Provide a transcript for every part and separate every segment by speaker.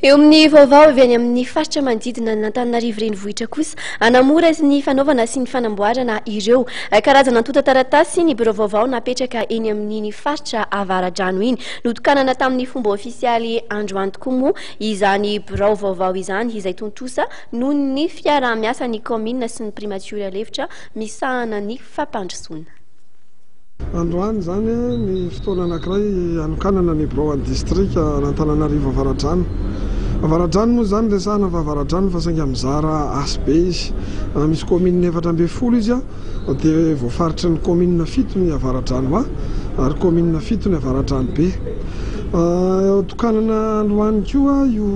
Speaker 1: Eo amin'ny vaovao avy any amin'ny faritra manodidina an'Antananarivo renivohitra kosa, anamora ny fanaovana sy ny fanamboarana ireo karazana antontan-taratasy ny birao vaovao napetraka eny amin'iny faritra Avaradrano iny. Notokanana tamin'ny fomba ofisialy androany tokoa moa izany birao vaovao izany izay tontosa noho ny fiaraha-miasan'ny kaominina sy ny primatiora lefitra misahana ny fampandrosoana.
Speaker 2: Androany izany ny fotoana anankiray hanokanana ny birao an'ny distrika an'Antananarivo Avaradrano. Avaradrano moa izany resahana fa Avaradrano fa saingy mizara asa be izy. Misy kaominina efatra ambin'ny folo izy dia voafaritry ny kaominina fito ny Avaradrano A ary kaominina fito ny Avaradrano B. Tokanana androany koa io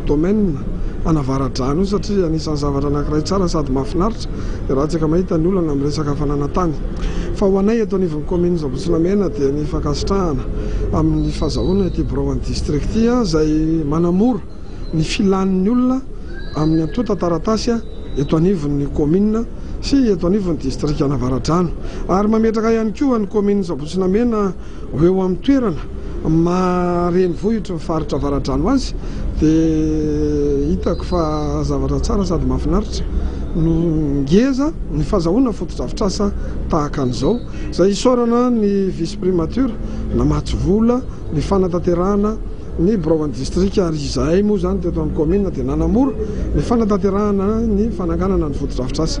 Speaker 2: domaine an'Avaradrano io satria anisan'ny zavatra anankiray tsara sady mahafinaritra Hilatsaka mahita ny olana amin'ny resaka fananan-tany. Fa ho anay eto anivon'ny kaominina Ambohitsilamena dia ny fankasitrahana amin'ny fazahoana ity biraon'ny distrikty izay manamora ny filan'ny olona amin'ny antontan-taratasy eto anivon'ny kaominina sy eto anivon'ny distrikan'Avaradrano ary mametraka ihany koa ny kaominina Ambohitsilamena Ho eo amin'ny toerana maha renivohitry ny faritra Avaradrano azy dia hitako fa zavatra tsara sady mahafinaritra no ngeza ny fazahoana fotodrafitrasa tahaka an'izao izay isaorana ny vice primature namatsy vola ny fanatanterahana ny biraon'ny distrika ary izahay moa izany teto amin'ny kaominina dia nanamora ny fanatanterahana ny fananganana ny fotodrafitrasa